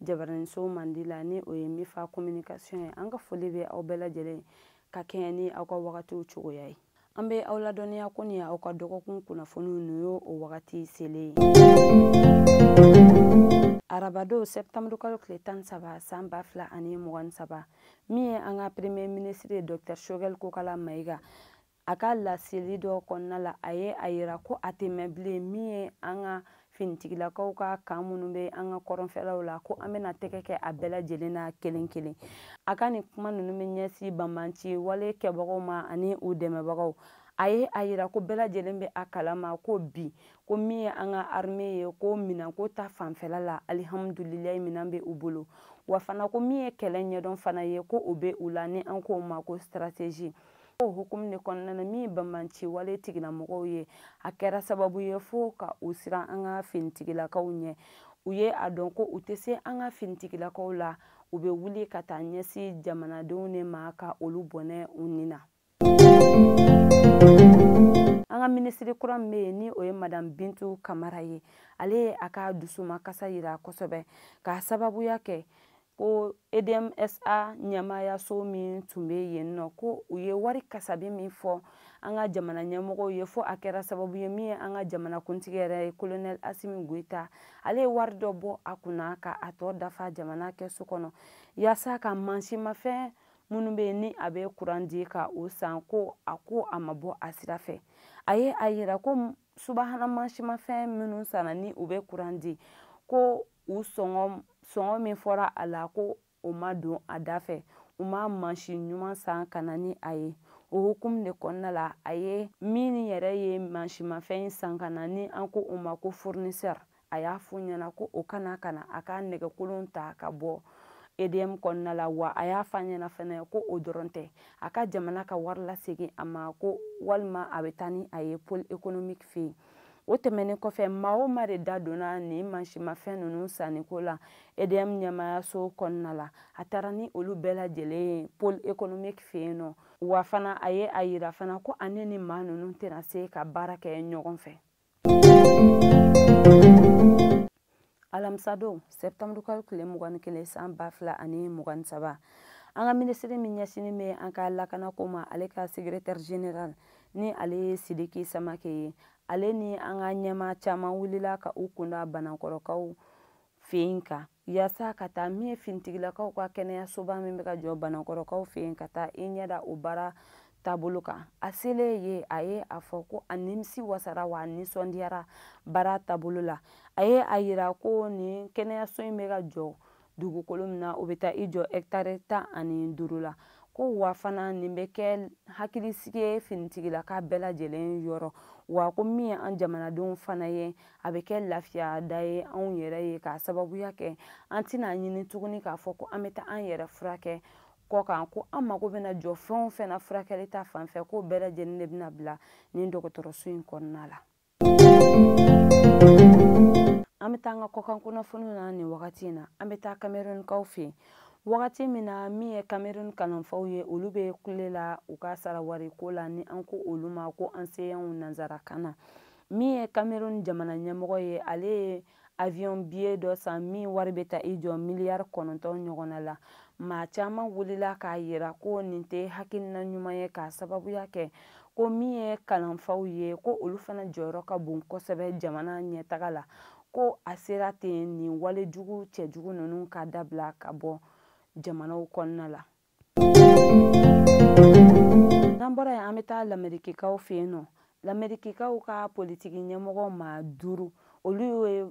jabaraniso mandi la ni o ye mifa communication ye an ka foli bɛ aw bɛɛ lajɛlen ka kɛɲɛ ni aw ka wagatiw cogoya ye an bɛ aw ladɔnniya ko nin aw ka dɔgɔkun kunnafoniw ninnu y'o o wagati selen ye arabadon sɛptamuru kalo tile tan ni saba san ba fila ani mugan ni saba min ye an ka premier minisiri ye dɔktɛr shogɛl kokala mayiga a ka laseli dɔ kɔnɔna la a ye a yira ko a tɛ mɛɛn bilen min ye an ka finitigilakaw ka camp minnu bɛ an ka kɔrɔnfɛlaw la ko an bɛna tɛgɛ kɛ a bɛɛ lajɛlen na kelen kelen a ka nin kuma ninnu bɛ ɲɛsin banbanci wale kɛbagaw ma ani u dɛmɛbagaw a ye a yira ko bɛɛ lajɛlen bɛ a kalama ko bi ko min ye an ka arme ye ko minɛnko ta fanfɛla la alihamudulilayi minɛn bɛ u bolo wa fana ko min ye kɛlɛ ɲɛdɔn fana ye ko o bɛ u la ni an k'o ma ko strategie o hukumu de kɔnɔna na min ye banbanci wale tigilamɔgɔw ye a kɛra sababu ye fo ka u siran an ka finitigilakaw ɲɛ u ye a dɔn ko u tɛ se an ka finitigilakaw la u bɛ wuli ka taa ɲɛsin jamanadenw de ma ka olu bɔnɛ u ni na an ka minisiri kura min bɛ yen ni o ye madam bintu kamara ye ale ye a ka dusumakasa yira kosɛbɛ k'a sababuya kɛ ko edmsa ɲɛmaayaso min tun bɛ yen nɔ ko u ye wari kasabi min fɔ an ka jamana ɲɛmɔgɔw ye fɔ a kɛra sababu ye min ye an ka jamanakuntigi yɛrɛ ye kolonɛli asimi goyita ale ye wari dɔ bɔ a kunna ka a tɔ dafa jamana kɛsu kɔnɔ yaasa ka mansinmafɛn minnu bɛ yen ni a bɛ kuran di ka o san ko a ko a ma bɔ a sira fɛ a ye a yira ko subahana mansinmafɛn minnu sanna ni u bɛ kuran di ko u sɔngɔ min fɔra a la ko o ma don a da fɛ u ma mansin ɲuman san ka na ni a ye o hukumu de kɔnɔna la a ye min yɛrɛ ye mansinmafɛn in san ka na ni an ko o ma ko fournisseur a y'a fɔ o ɲɛna ko o ka na ka na a ka nɛgɛkolon ta ka bɔ edm kɔnɔna la wa a y'a fɔ a ɲɛna fɛnɛ ko o dɔrɔn tɛ a ka jamana ka wari lasegin a ma ko walima a bɛ taa ni a ye pole économique fɛ yen o tɛmɛnen kɔfɛ maa o maa de da donna nin mansimafɛn ninnu sanniko la edm ɲɛmaayaso kɔnɔna la a taara ni olu bɛɛ lajɛlen ye pole économique fɛ yen nɔ wa fana a ye a yira fana ko ale ni maa ninnu tɛna se ka baara kɛ ɲɔgɔn fɛ alamisadon sɛptamuru kalo tile mugan ni kelen san ba fila ani mugan ni saba an ka minisiri min ɲɛsinnen bɛ an ka lakanako ma ale ka sekretɛri general ni ale ye sidiki samakɛ ye ale ni an ka ɲɛmaa caman wulila ka u kun da banankɔrɔkaw fɛ yen kan yasa ka taa min ye finitigilakaw ka kɛnɛyasoba min bɛ ka jɔ banankɔrɔkaw fɛ yen ka taa i ɲɛ da o baara taabolo kan a selen ye a ye a fɔ ko a nimisi wasara wa a nisɔndiyara baara taabolo la a ye a yira ko nin kɛnɛyaso in bɛ ka jɔ dugukolo min na o bɛ taa i jɔ hɛkitari tan ani duuru la ko wa fana nin bɛ kɛ hakilisigi ye finitigilaka bɛɛ lajɛlen yɔrɔ wa ko min ye an jamanadenw fana ye a bɛ kɛ lafiya da ye anw yɛrɛ ye k'a sababuya kɛ an tɛna ɲini tuguni k'a fɔ ko an bɛ taa an yɛrɛ furakɛ kɔkan ko an mago bɛna jɔ fɛn o fɛn na furakɛli ta fan fɛ k'o bɛɛ lajɛlen de bɛna bila nin dɔgɔtɔrɔso in kɔnɔna la an bɛ taa an ka kɔkan kunnafoniw na nin wagati in na an bɛ taa kamerunkaw fɛ yen wagati min na min ye kamerun kalanfaw ye olu bɛ kule la u ka sarawariko la ni an ko olu ma ko enseignants nanzarakan na min ye cameroun jamana ɲɛmɔgɔ ye ale ye avion biye dɔ san min wari bɛ taa i jɔ miliyari kɔnɔntɔn ɲɔgɔnna la maa caman wulila k'a yira ko nin tɛ hakilina ɲuman ye k'a sababuya kɛ ko min ye kalanfaw ye ko olu fana jɔyɔrɔ ka bon kosɛbɛ jamana ɲɛtaga la ko a sera ten nin wale jugu cɛjugu ninnu ka dabila ka bɔ jamanaw kɔnɔna la n'an bɔra yen an bɛ taa lamerikikaw fɛ yen nɔ lamerikikaw ka politiki ɲɛmɔgɔ maa duuru olu ye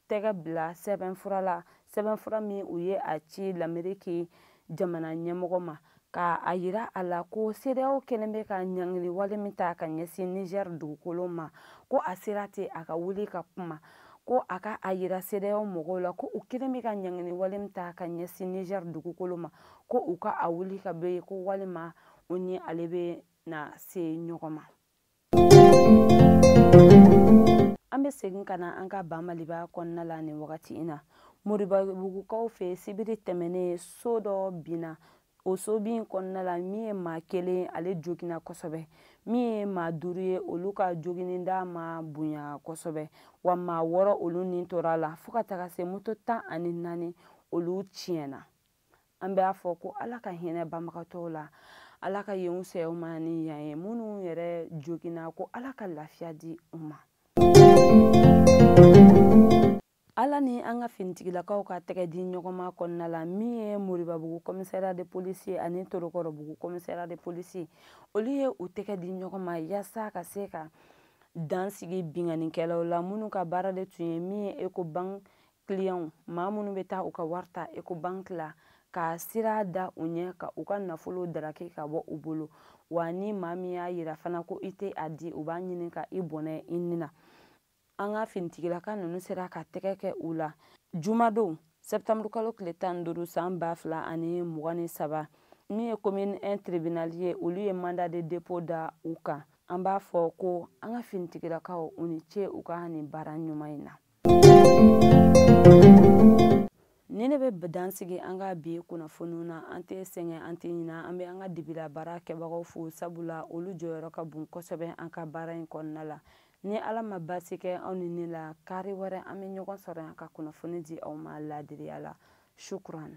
tɛgɛ bila sɛbɛnfura la sɛbɛnfura min u ye a ci lameriki jamana ɲɛmɔgɔ ma ka a yira a la ko cedeao kɛlen bɛ ka ɲangili wale min ta ka ɲɛsin niger dugukolo ma ko a sera ten a ka wuli ka kuma ko a ka a yira cedeao mɔgɔw la ko u kɛlen bɛ ka ɲangili wale min ta ka ɲɛsin niger dugukolo ma ko u ka a wuli ka bɔ yen ko walima u ni ale bɛna se ɲɔgɔn ma an bɛ segin ka na an ka ba maliba kɔnɔna la nin wagati in na moribabugukaw fɛ sibiri tɛmɛnen so dɔ binna o sobin kɔnɔna la min ye maa kelen ale joginna kosɛbɛ min ye maa duuru ye olu ka joginni da ma bonya kosɛbɛ wa maa wɔɔrɔ olu ni tora a la fo ka taga se moto tan ani naani olu tiɲɛna an b'a fɔ ko ala ka hinɛ banbagatɔw la ala ka yen fisaya u ma ni yan ye minnu yɛrɛ joginna ko ala ka lafiya di u ma ala ni an ka finitigilakaw ka tɛgɛ di ɲɔgɔnma kɔnɔna la min ye moribabugu kɔmisɛriya de polisi ani torokɔrɔbugu kɔmisɛriya de polisi olu ye u tɛgɛ di ɲɔgɔn ma yaasa ka se ka dan sigi binganikɛlaw la minnu ka baara de tun ye min ye ecobank kiliyanw maa minnu bɛ taa u ka wari ta ekobanki la ka sira da u ɲɛ ka u ka nafolo daraki ka bɔ u bolo wa ni maa min y'a yira fana ko i tɛ a di u b'a ɲini ka i bɔnɛ i ni na an ka finitigilaka ninnu sera ka tɛgɛ kɛ u la jumadon sɛptamuru kalo tile tan ni duuru san ba fila ani mugan ni saba min ye komini un tribinali ye olu ye manda de depo da u kan an b'a fɔ ko an ka finitigilakaw u ni ce u ka nin baara ɲuman in na ni ne bɛ dansigi an ka bi kunnafoniw na an tɛ sɛgɛn an tɛ ɲina an bɛ an ka dibila baara kɛbagaw fo sabula olu jɔyɔrɔ ka bon kosɛbɛ an ka baara in kɔnɔna la ni ala ma baasi kɛ aw ni ne la kari wɛrɛ an bɛ ɲɔgɔn sɔrɔ yan ka kunnafoni di aw ma laadiriya la shukuran